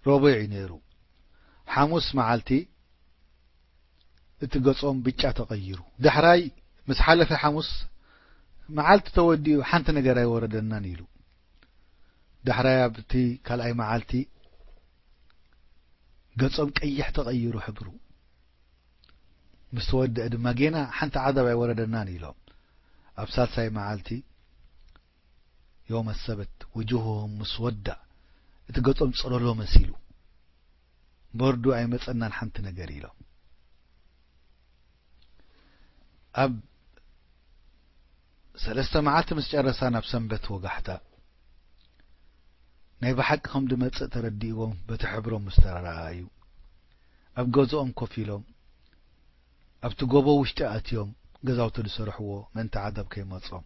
ሮቡዕ እዩ ነይሩ ሓሙስ መዓልቲ እቲ ገጾም ብጫ ተቐይሩ። ዳሕራይ ምስ ሓለፈ ሓሙስ መዓልቲ ተወዲኡ ሓንቲ ነገር ኣይወረደናን ኢሉ። ዳሕራይ ኣብቲ ካልኣይ መዓልቲ ገጾም ቀይሕ ተቐይሩ ሕብሩ ምስ ተወደአ ድማ ጌና ሓንቲ ዓዛብ ኣይወረደናን ኢሎም ኣብ ሳልሳይ መዓልቲ ዮመ ሰብት ውጁሁሁም ሙስወዳ እቲ ገጾም ጸሎሎ መሲሉ በርዱ ኣይመጸናን ሓንቲ ነገር ኢሎም ኣብ ሰለስተ መዓልቲ ምስ ጨረሳ ናብ ሰንበት ወጋሕታ ናይ ብሓቂ ከም ድመጽእ ተረዲእዎም በቲ ሕብሮም ምስ ተረኣዩ ኣብ ገዝኦም ኮፍ ኢሎም ኣብቲ ጎቦ ውሽጢ ኣትዮም ገዛውቲ ዝሰርሕዎ ምእንቲ ዓዛብ ከይመጾም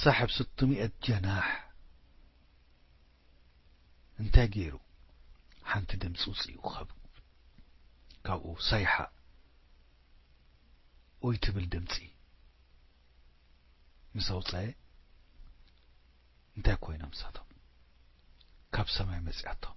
ሳሕብ ስትሚኤት ጀናሕ እንታይ ገይሩ ሓንቲ ድምጺ ውጺኡ ካብ ካብኡ ሳይሓ ኡይ ትብል ድምጺ ምስ ኣውጻኤ እንታይ ኮይኖም ንሳቶም ካብ ሰማይ መጺኣቶም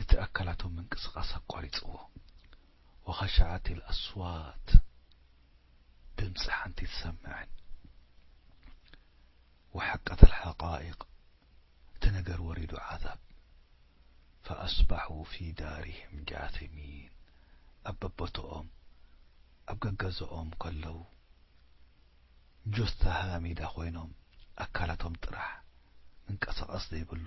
እቲ ኣካላቶም ምንቅስቓስ ኣቋሪጽዎ። ወኸሸዐት ኣልኣስዋት ድምጺ ሓንቲ ትሰምዕን። ወሐቀት ኣልሓቓኢቕ እቲ ነገር ወሪዱ ዓዛብ። ፈኣስባሑ ፊ ዳሪሂም ጃሲሚን ኣብ በቦትኦም ኣብ ገገዝኦም ከለው ጁስታ ሃሚዳ ኮይኖም ኣካላቶም ጥራሕ ምንቀሳቐስ ዘይብሉ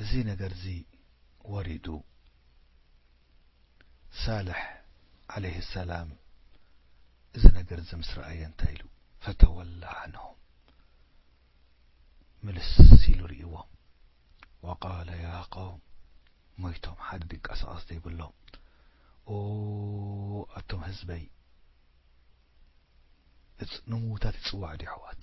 እዚ ነገርዚ ወሪዱ ሳልሕ ዓለይሂ ሰላም እዚ ነገርዚ ምስ ረኣየ እንታይ ኢሉ ፈተወላ ዓንሁም ምልስ ኢሉ ርእይዎም ወቃለ ያ ቀውም ሞይቶም ሓደ ድንቀሳቐስ ዘይብሎም ኦ ኣቶም ህዝበይ ንምዉታት ይጽዋዕ ድዩ ኣሕዋት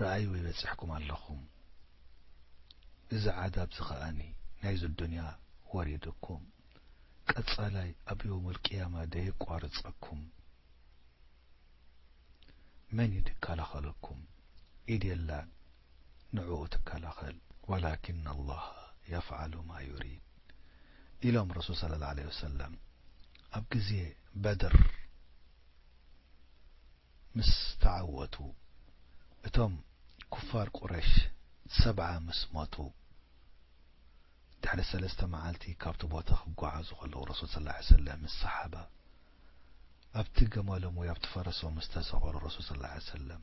ርኣዩ ይበጽሕኩም ኣለኹም እዚ ዓዛብ እዚ ከኣ ናይዚ ኣዱንያ ወሪዱኩም ቀጻላይ ኣብ የውሙል ቂያማ ደየቋርጸኩም መን እዩ ድከላኸለኩም ኢድ የላን ንዕኡ ትከላኸል ወላኪን ኣላሃ የፍዓሉ ማ ዩሪድ ኢሎም ረሱል ሰለላሁ ዓለይሂ ወሰለም ኣብ ግዜ በድር። ምስ ተዓወቱ እቶም ኩፋር ቁረሽ ሰብዓ ምስ ሞቱ ድሕሪ ሰለስተ መዓልቲ ካብቲ ቦታ ክጓዓዙ ከለዉ ረሱል ሰለላሁ ዓለይሂ ወሰለም ምስ ሰሓባ ኣብቲ ገመሎም ወይ ኣብቲ ፈረሶም ምስ ተሰቐሉ ረሱል ሰለላሁ ዓለይሂ ወሰለም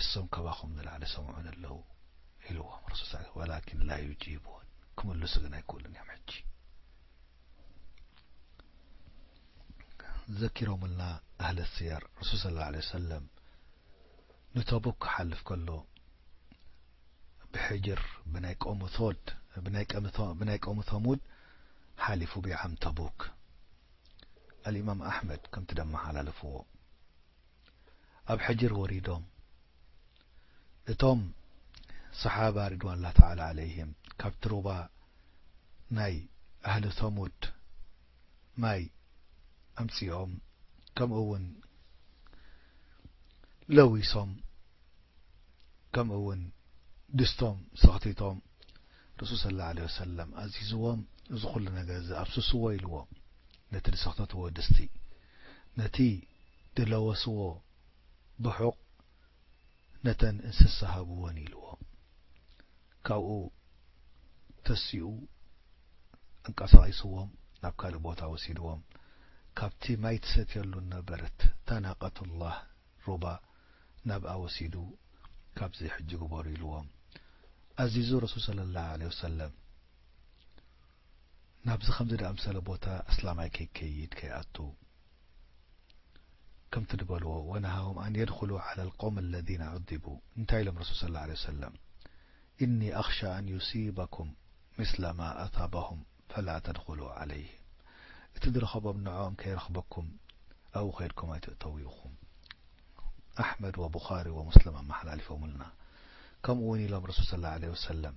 እሶም ካባኹም ንላዕሊ ሰምዑኒ ኣለዉ ኢልዎም ረሱል ሰ ወላኪን ላ ዩጂቡን ክምልሱ ግን ኣይክእሉን እዮም ሕጂ ዘኪሮምልና ኣህለ ስየር ረሱል ስለ ላ ለ ሰለም ንተቡክ ክሓልፍ ከሎ ብሕጅር ብናይ ቆሙ ቶድ ብናይ ቆሙ ተሙድ ሓሊፉ ብዓም ተቡክ ኣልእማም ኣሕመድ ከምቲ ደመሓላለፍዎ ኣብ ሕጅር ወሪዶም እቶም ሰሓባ ሪድዋን ላህ ተዓላ ዓለይሂም ካብቲ ሩባ ናይ ኣህሊ ሰሙድ ማይ ኣምጺኦም ከምኡ ውን ለዊሶም ከምኡ ውን ድስቶም ሰኽቲቶም ረሱል ሰለላሁ ዓለይሂ ወሰለም ኣዚዝዎም እዚ ኩሉ ነገር እዚ ኣፍስስዎ ኢልዎም ነቲ ዝሰኽተትዎ ድስቲ፣ ነቲ ድለወስዎ ብሑቕ ነተን እንስሳ ሃብወን ኢልዎ ካብኡ ተሲኡ ኣንቀሳቒስዎም ናብ ካልእ ቦታ ወሲድዎም ካብቲ ማይ ትሰትየሉ ነበረት ታናቀቱላህ ሩባ ናብኣ ወሲዱ ካብዚ ሕጂ ግበሩ ኢልዎም ኣዚዙ ረሱል ሰለላሁ ዓለይሂ ወሰለም ናብዚ ከምዚ ድኣምሰለ ቦታ ኣስላማይ ከይከይድ ከይኣቱ ከምቲ ድበልዎ ወነሃሁም ኣን የድኹሉ ዓላ ልቀውሚ ኣለዚነ ዑዚቡ እንታይ ኢሎም ረሱል ሰለላሁ ዓለይሂ ወሰለም ኢኒ ኣኽሻ ኣን ዩሲበኩም ምስለ ማ ኣሳበሁም ፈላ ተድኹሉ ዓለይሂም እቲ ዝረኸቦም ንዕኦም ከይረኽበኩም ኣብኡ ከይድኩም ኣይትእተዉ ኢኹም ኣሕመድ ወቡኻሪ ወሙስሊም ኣመሓላሊፎምልና ከምኡ እውን ኢሎም ረሱል ሰለላሁ ዓለይሂ ወሰለም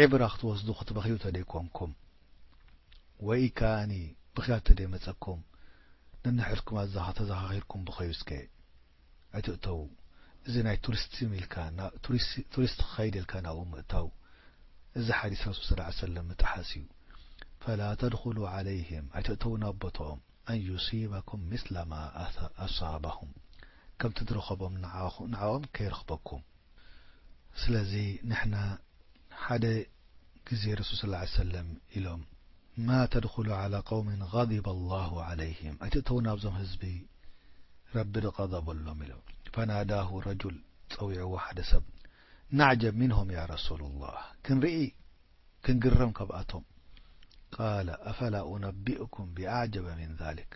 ዒብራ ክትወስዱ ክትበኽዩ ተደይ ኮንኩም ወይ ከኣኒ ብኽያት ተደይ መጸኩም ነንሕድኩም ኣዛኻ ተዛኻኺርኩም ብኸዩ እስከ ኣይትእተዉ እዚ ናይ ቱሪስትም ኢልካ ናብ ቱሪስት ክኸይድ ኢልካ ናብኡ ምእታው እዚ ሓዲስ ረሱል ሰለላሁ ዓለይሂ ወሰለም ምጥሓስ እዩ ፈላ ተድኹሉ ዓለይሂም ኣይትእተዉ ናብ ቦትኦም ኣን ዩሲበኩም ምስለ ማ ኣሳበሁም ከምቲ ዝረኸቦም ንዓኦም ከይረኽበኩም ስለዚ ንሕና ሓደ ግዜ ረሱል ሰለላሁ ዓለይሂ ወሰለም ኢሎም ማ ተድኹሉ ዓላ ቀውሚን ቐዲበ ላሁ ዓለይሂም ኣይትእተዉ ናብዞም ህዝቢ ረቢ ዝቐደበሎም ኢሎም ፈናዳሁ ረጁል ጸዊዕዎ ሓደ ሰብ ናዕጀብ ሚንሁም ያ ረሱሉላህ ክንርኢ ክንግረም ካብኣቶም ቃለ ኣፈላ ኡነቢኡኩም ቢኣዕጀበ ሚን ዛሊክ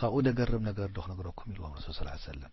ካብኡ ደገርም ነገርዶ ክነግረኩም ኢልዎም ረሱል ሰለላሁ ዓለይሂ ወሰለም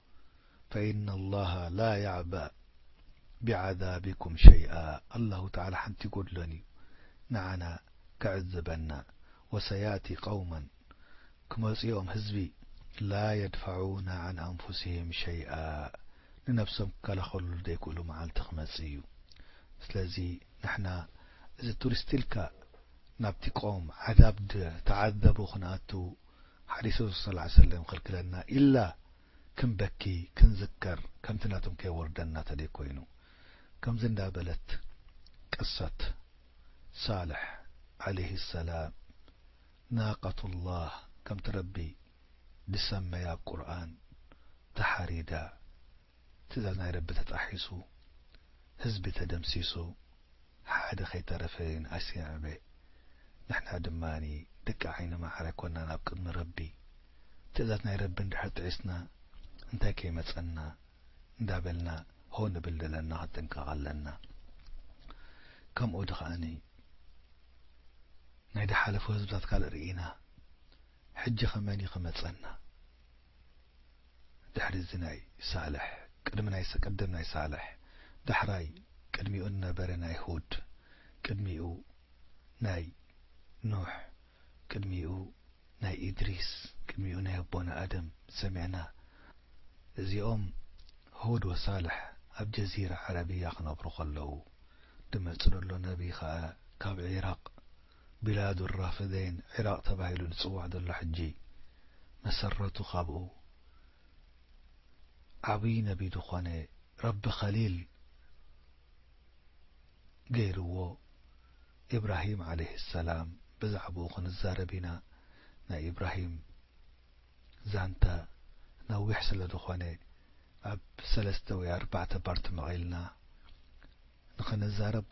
ፈኢነ ኣላሀ ላ ያዕበእ ቢዓዛቢኩም ሸይኣ ኣላሁ ተዓላ ሓንቲ ኣይጎድሎን እዩ ንዓና ክዕዝበና ወሰያእቲ ቀውመን ክመፁ እዮም ህዝቢ ላ የድፈዑነ ዐን ኣንፉሲሂም ሸይኣ ንነብሶም ክከላኸልሉ ዘይክእሉ መዓልቲ ክመፅእ እዩ ስለዚ ንሕና እዚ ቱሪስት ኢልካ ናብቲ ቀውም ዓዛብ ዝተዓዘቡ ክንኣትው ሓዲሱ ሰለዓል ሰለም ከልክለና ኢልና ክንበኪ ክንዝከር ከምቲ ናቶም ከይወርደና ተደይ ኮይኑ ከምዚ እንዳ በለት ቅሰት ሳልሕ ዓለይሂ ሰላም ናቀቱላህ ከምቲ ረቢ ድሰመያ ቁርኣን ተሓሪዳ ትእዛዝ ናይ ረቢ ተጣሒሱ ህዝቢ ተደምሲሱ ሓደ ከይተረፈ ንኣስየዕበ ንሕና ድማ ደቂ ዓይኒ ማዕረ ኮና ናብ ቅድሚ ረቢ ትእዛዝ ናይ ረቢ እንድሕር ጥሒስና እንታይ ከይመጸና እንዳበልና ሆ ንብል ዘለና ክንጥንቀቅ ኣለና ከምኡ ድካ ናይ ድሓለፉ ህዝብታት ካልእ ሪኢና ሕጂ ከ መን እዩ ክመጸና። ድሕሪ እዚ ናይ ሳልሕ ቅድሚ ናይ ቅድም ናይ ሳልሕ ዳሕራይ ቅድሚኡ ንነበረ ናይ ሁድ ቅድሚኡ ናይ ኑሕ ቅድሚኡ ናይ ኢድሪስ ቅድሚኡ ናይ ኣቦና ኣደም ሰሚዕና እዚኦም ሁድ ወሳልሕ ኣብ ጀዚራ ዓረብያ ክነብሩ ከለዉ ድመጽ ደሎ ነቢ ከኣ ካብ ዒራቅ ቢላዱ ራፍዴን ዒራቕ ተባሂሉ ዝጽዋዕ ዘሎ ሕጂ መሰረቱ ካብኡ ዓብይ ነቢ ዝኾነ ረቢ ኸሊል ገይርዎ ኢብራሂም ዓለይሂ ሰላም ብዛዕብኡ ክንዛረብ ኢና ናይ ኢብራሂም ዛንታ ነዊሕ ስለ ዝኾነ ኣብ ሰለስተ ወይ ኣርባዕተ ፓርቲ መቒልና ንኽንዛረብ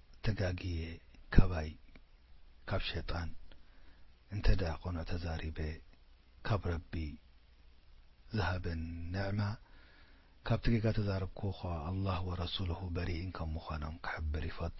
ተጋግየ ካባይ ካብ ሸጣን እንተ ቁኑዕ ተዛሪበ ካብ ረቢ ዝሃበን ንዕማ ካብቲ ጌጋ ተዛርብኩ ከኣ ኣላህ ወረሱሉሁ በሪኢን ከም ምኳኖም ክሕብር ይፈቱ።